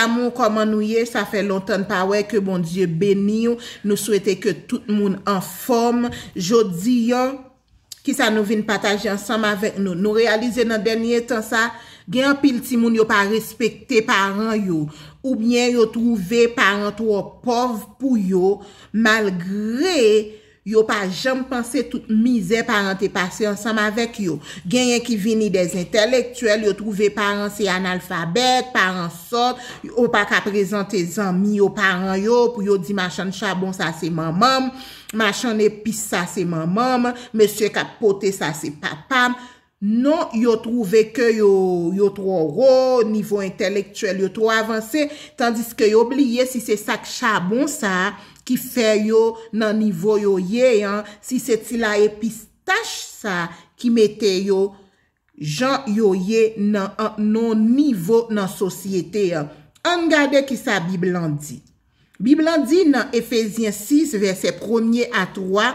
Damou kòman nou ye sa fè lontan n pa wè ke Bondye beniw nou swete ke tout moun anfòm jodi an kisa nou vin pataje ansanm avèk nou nou reyalize nan dènye tan sa gen anpil timoun yo pa respekte paran yo oubyen yo twouve paran twò pòv pou yo malgre Yo pa janm panse tout mizè paran te pase ansanm avèk yo. Genyen ki vini de zentèlektyèl, yo twouve paran se analfabèt, paran sòt, yo pa ka prezante zanmi yo paran yo pou yo di machann chabon sa se manman m, machann epis sa se manman m, mesye k ap pote sa se papa m. Non, yo twouve ke yo, yo twò wo, nivo entèlektyèl yo twò avanse, tandiske yo bliye si se sak chabon sa a ki fè yo nan nivo yo ye an, si se ti laye pistach sa a ki mete yo jan yo ye nan, nan nivo nan sosyete an. Ann gade kisa Bib lan di. Bib la di nan Efezyen 6, vèsè premye a twa,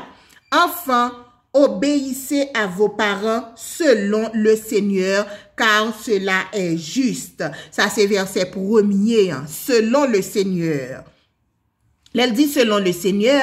Anfan, obeyise a vo paran selon le Senyè, kar sela è jis. Sa se vèsè premye an, selon le Senyè. Lè l di selon le Senyè,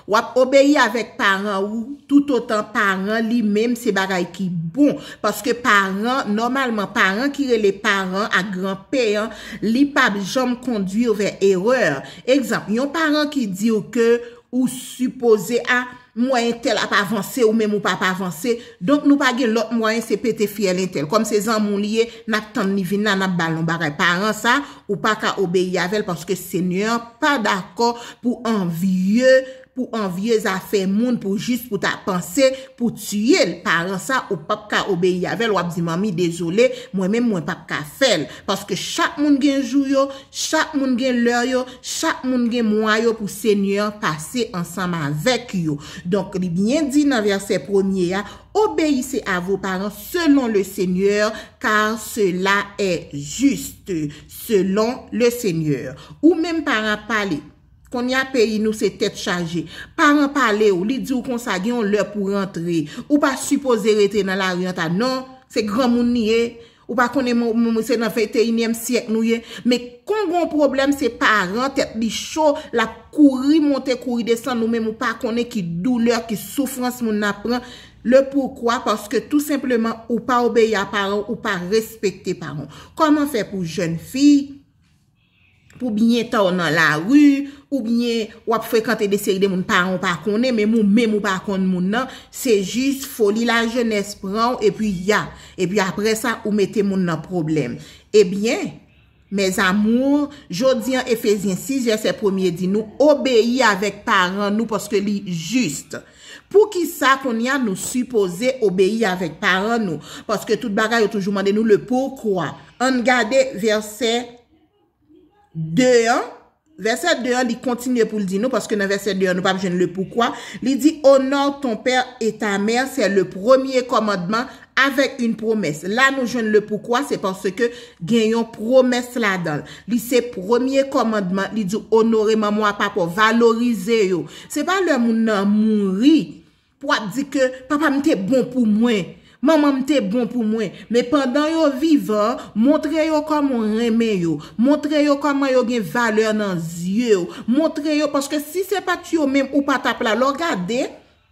W ap obeyi avèk paran ou toutotan paran li menm se bagay ki bon. Paske paran, nòmalman paran ki rele paran ak gran P an, li pa p janm kondwi w vè erè. Egzanp, yon paran ki di w ke ou sipoze a, mwen entèl ap avanse ou menm ou pa p avanse, donk nou pa gen lòt mwayen se pete fyèl entèl. Kòm se zanmi w li ye, n ap tann li vin la, n ap ba l yon bagay. Paran sa, Ou pa ka obeyi avè l paske Senyè a pa dakò pou anvye, pou anvye zafè moun pou jis pou ta panse pou tiye l. Paran sa ou p ap ka obeyi avè l, w ap di manmi dezole, mwen menm mwen p ap ka fè l. Paske chak moun gen jou yo, chak moun gen lè yo, chak moun gen mwa yo pou Senyè a pase ansanm avèk yo. Donk li byen di nan vèsè premye a, Obeyise a vo paran selon le Senyè, kar sela è jist selon le Senyè. Ou menm paran pale. Kounye a peyi nou se tèt chaje. Paran pale ou, li di ou konsa gen yon lè pou rantre. Ou pa sipoze rete nan lari an ta non, se granmoun li ye. Ou pa konnen mwen se nan venteyinyèm syèk nou ye, men kon gon pwoblèm se paran tèt li cho, l ap kouri monte kouri desann ou menm ou pa konnen ki doulè, ki soufrans moun nan ap pran, le poukwa paske tou senpleman ou pa obeyi a paran w, ou pa respekte paran w. Kòman fè pou jèn fi. Pou byen ta w nan lari, ou byen w ap frekante de seri de moun paran w pa konnen, men moun menm ou pa konn moun nan, se jis foli lajenès pran w epi ya. Epi apre sa, ou mete moun nan pwoblèm. Ebyen, mes amours, jodi an Efezyen 6 vèsè premye di nou, obeyi avèk paran nou paske li juste. Poukisa konnya nou sipoze obeyi avèk paran nou? Paske tout bagay yo toujou mande nou le pourquoi. Ann gade vèsè 2 an, vèsè 2 an li kontinye pou l di nou, paske nan vèsè 2 an nou pa p jwenn le pourquoi, li di, Honore ton père et ta mère, c'est le premier commandement Avèk yn pwomès. La nou jwenn le poukwa se paske gen yon pwomès ladan l. Li se premye kòmandman, li di w onore manman w a papa w, valorize yo. Se pa lè moun nan mouri pou w ap di ke papa m te bon pou mwen, manman m te bon pou mwen. Men pandan yo vivan, montre yo kòman w renmen yo, montre yo kòman yo gen valè nan zye w, montre yo paske si se pa t yo menm ou pa t ap la. Lè w gade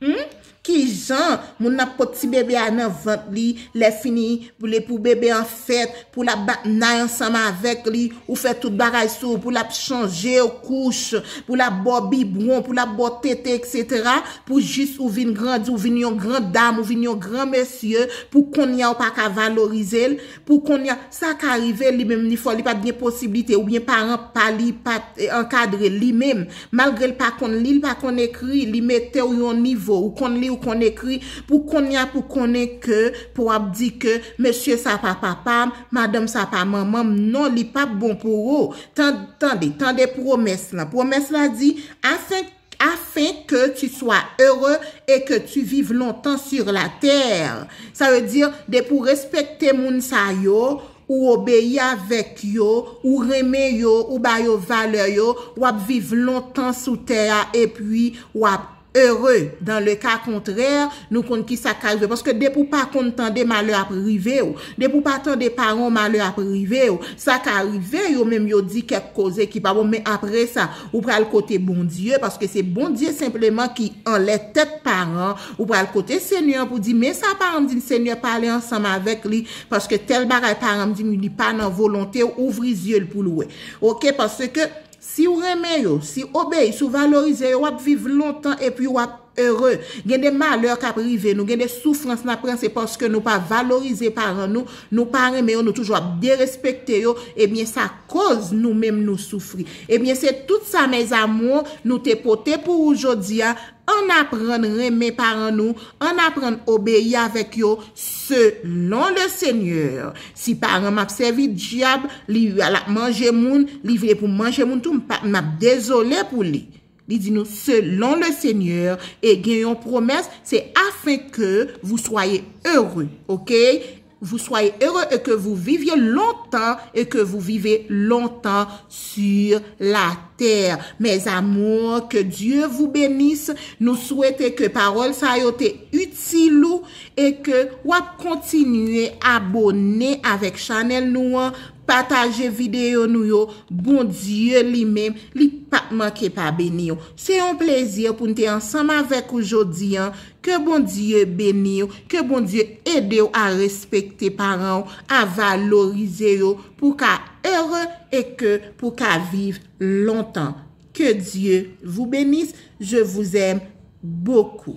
Humm kijan moun nan ap pot ti bebe a nan vant li lè fini li pou bebe an fèt pou lap bat nay ansanm avèk li ou fè tout bagay sou pou lap chanjew kouch pou lap baw bibwon pou lap baw tete etc pou jis ou vin grandi ou vin yon gran dam ou vin yon gran mesye pou konnya ou paka valorizel Pou konnya, sa ka rive li menm li fò li pat gen posiblite oubyen paran pa li pat ankadre l li menm. Malgre l pa konn li, l pa konn ekri, li mete w yon nivo ou konn li ou konn ekri pou konnya pou konnen ke pou ap di ke mesye sa pa papa m, madanm sa pa manman m, non li pap bon pou ou. Tande, tande pwomès lan. Pwomès la di, afin. Afin que tu sois heureux et que tu vives longtemps sur la terre. Sa vle di, depi ou respekte moun sa yo, ou obeyi avèk yo, ou renmen yo, ou ba yo valè yo, w ap viv lontan sou tè a epi w ap ere. Dans le cas contraire, nou konn ki sa k ka rive. Paske depi ou pa konn tande, malè ap rive ou. Depi ou pa tande paran w, malè ap rive ou. Sa ka rive, yo menm yo di kèk koze ki pa bon, men apre sa, Ou pral kote Bondye, paske se Bondye senpleman ki anlè tèt paran, ou pral kote Senyè an pou di, men sa paran m di m Senyè pale ansanm avèk li, paske tèl bagay paran m di m wi li pa nan volonte w, ouvri zye l pou l wè. Ok, paske si w renmen yo, si w obeyi, si w valorize yo, w ap viv lontan epi w ap. heureux. Gen de malè kap rive nou, gen de soufrans nap pran se paske nou pa valorize paran nou, nou pa renmen yo, nou toujou ap derespekte yo, ebyen sa koz nou menm nou soufri. Ebyen se tout sa mes amours nou te pote pou ou jodi a, ann aprann renmen paran nou, ann aprann obeyi avèk yo selon le seigneur. Si paran m ap sèvi dyab, li lap manje moun, li vle pou manje moun tou, m pap m ap dezole pou li. Li di nou, Selon le Seigneur, e gen yon pwomès, se afin ke vou swaye ere, okay, vou swaye ere e ke vou vivye lontan e ke vou vive lontan sur la tè. Mes amours, ke Dieu vous benisse, nou swete ke pawòl sa yo te itil ou e ke wap kontinye abone avèk chanèl nou an Pataje videyo nou yo, Bondye li menm, li pap manke pa beni w. Se yon plezi pou n te ansanm avèk ou jodi an, ke Bondye beni w, ke Bondye ede w a respekte paran w, a valorize yo pou w ka ere e ke pou w ka viv lontan. Ke Dye vou benis, je vou zèm bokou.